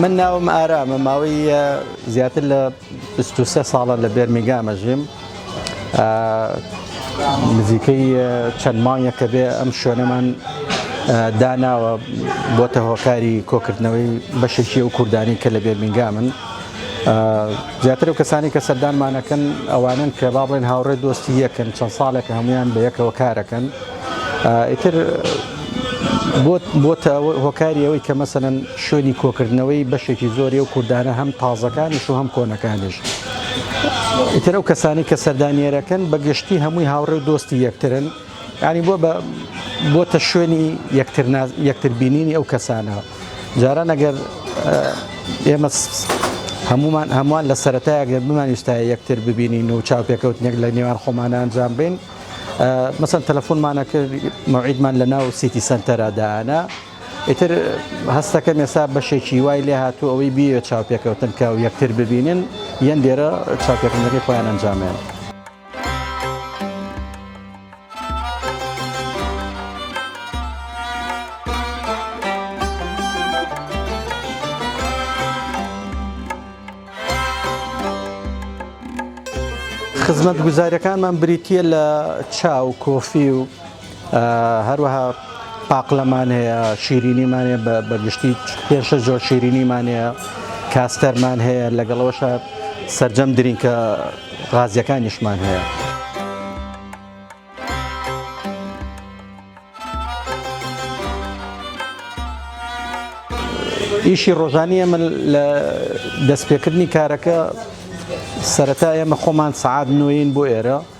من ناوم ئارامە ماوەی زیاتر لە 23 ساڵە لە بێرمیگامە ژیم نزیکەی چەند مانگە کە بێ ئەم شوێنەمان داناوە بۆتە هۆکاری کۆکردنەوەی بەشێکی ئەو کوردانی کە لە بێرمیگامن زیاتر ئەو کەسانی کە سەردانمانەکەن ئەوانن کە با بڵێن هاوڕێ دۆستی یەکن چەند ساڵێکە هەمویان بە یەکەوە کارەکەن ئیتر بۆتە هۆکاری ئەوەی کە مەسەن شوێنی کۆکردنەوەی بەشێکی زۆری و کوردانە هەم تازەکانیش و هەم کۆنەکانیش. ئیتر ئەو کەسانی کە سەردانیێرەکەن بە گشتی هەمووی هاوڕێ و دۆستی یەکترن ینی بۆ بۆتە شوێنی یەکتر بینینی ئەو کەسانە. جاران ئەگەر ئێمە هەمومان هەمووان لە سەتایە گەر بمانویستایە یەکتر ببینین و چاوپێکەوتنێک لە نێوان خۆمانە ئەنجام بین مەسەن تەلەفۆنمانە کرد مەعیدمان لە ناو سیتی سنتەرادانا ئیتر هەستەکە مێسا بەشێکی وای لێ هاتوو ئەوەی بیوێت چاوپێکەوتن کە و یەکتر ببینن یەن دێرە چاپێکردنەکەی خۆیان ئەنجامیان. خزمەتگوزاریەکانمان بریتە لە چاو کۆفی و هەروەها پاقلەمان هەیە شیرینیمان هەیە بە بەگشتی پێشە زۆر شیرینیمان هەیە کاستەرمان هەیە لەگەڵەوەشە سرجەم درینکە غازیەکانیشمان هەیە. ئیشی ڕۆژانی ئەمە لە دەستپێکردنی کارەکە سەرەتا ئێمە خۆمان سعات نوین بۆ ئێرە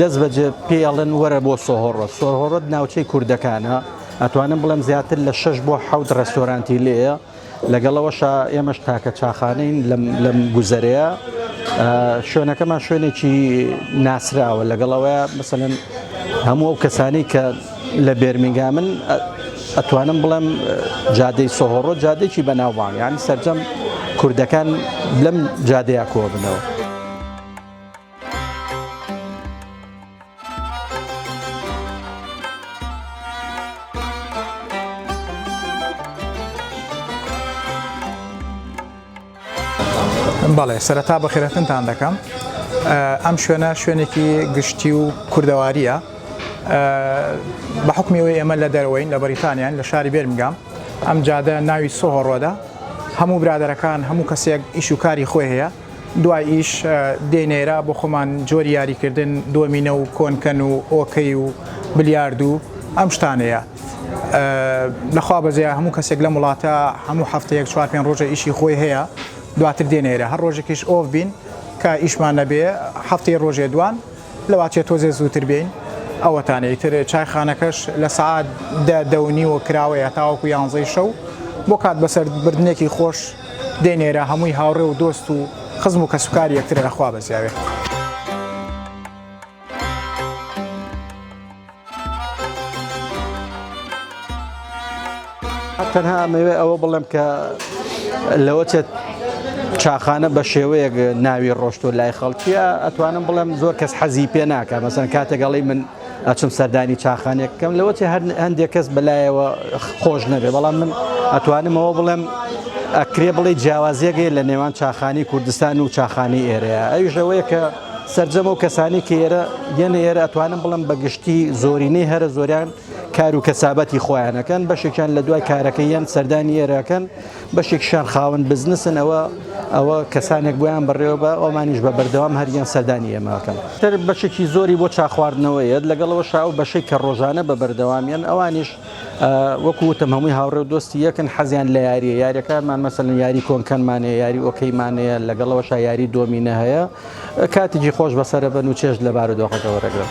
دەست بەجێ پێیەڵن وەرە بۆ سۆهۆڕۆت سۆهۆڕۆت ناوچەی کوردەکانە ئەتوانم بڵێم زیاتر لە شش بۆ حەوت ڕێستۆرانتی لێە لەگەڵەوەشە ئێمەش تاکە چاخانەین لەم گوزەرەیە شوێنەکەمان شوێنێکی ناسراوە لەگەڵەوە مثلەن هەموو ئەو کەسانی کە لە بێرمینگا من ئەتوانم بڵێم جادەی سۆهۆڕۆ جادێکی بەناوبانگ یانی سرجەم کوردەکان لەم جادەیە کۆبنەوە. بەڵێ سەرەتا بەخێرەتنتان دەکەم ئەم شوێنە شوێنێکی گشتی و کوردەواریە بە حکمیەوەی ئێمە لە دەرەوەین لە بەریتانیان لە شاری بێرمگام ئەم جادە ناوی سۆهۆڕۆدا هەموو برادەرەکان هەموو کەسێک ئیش و کاری خۆی هەیە دواییش دێین ئێرە بۆ خۆمان جۆری یاریکردن دۆمینە و کۆنکەن و ئۆکەی و بلیارد و ئەم شتانەیە. لە خوا بەزەیە هەموو کەسێک لەم وڵاتە هەموو هەفتەیەک چوار پێنج ڕۆژە ئیشی خۆی هەیە، دواتر دێنە ئێرە هەر ڕۆژێکیش ئۆف بین کە ئیشمان نەبێ هەفتەی ڕۆژێ دوان لەواتیە تۆزێ زووتر بێین. ئەوەتانە ئیتر چایخانەکەش لە سەعات دە، دە و نیوە کراوەیە تاوەکو یانزەی شەو بۆ کات بەسەر بردنێکی خۆش. دەینێرە هەمووی هاوڕێ و دۆست و خزم و کەسوکاری یەکترە لە خوا بەزیاوێ. تەنها ئەمەوێ ئەوە بڵێم کە لەوە چێت چاخانە بە شێوەیەک ناوی ڕۆشتۆ لای خەڵکیە ئەتوانم بڵێم زۆر کەس حەزی پێ ناکە مەسەن کاتێکگەڵی من ئەچم سەردانی چاخانێک بکەم لەوەچ هەندێک کەس بەلایەوە خۆش نەبێ بەڵام من ئەتوانمەوە بڵێم ئەکرێ بڵێ جیاوازیەگەی لە نێوان چاخانی کوردستان و چاخانی ئێرەیە ئەویشەوەیە کە سرجەم و کەسانی کە ئێرە یەنە ئێرە ئەتوانم بڵم بە گشتی زۆرینەی هەرە زۆریان کار و کەسابەتی خۆیانەکەن بەشێکیان لە دوای کارەکە یان سەردانی ئێراکەن بەشێکیشیان خاوەن بزنسن، ئەوە ئەوە کەسانێک بۆیان بەڕێوە بە ئەومانیش بە بەردەوام هەریان سەردانی ئێمە ئەکەن. تر بەشێکی زۆری بۆ چا خواردنەوە یەت، لەگەڵ ئەوەشا ئەو بەشەی کە ڕۆژانە بە بەردەوام یەن ئەوانیش وەکو وتم هەمووی هاوڕێ و دۆستی یەکن، حەزیان لە یاریە، یاریەکانمان مەسەلەن یاری کۆنکەنمان هەیە، یاری ئۆکەیمان هەیە، لەگەڵ ئەوەشا یاری دۆمینە هەیە، کاتیکی خۆش بەسەر ئەبەن و چێژ لە بارودۆخەکە وەرئەگرن.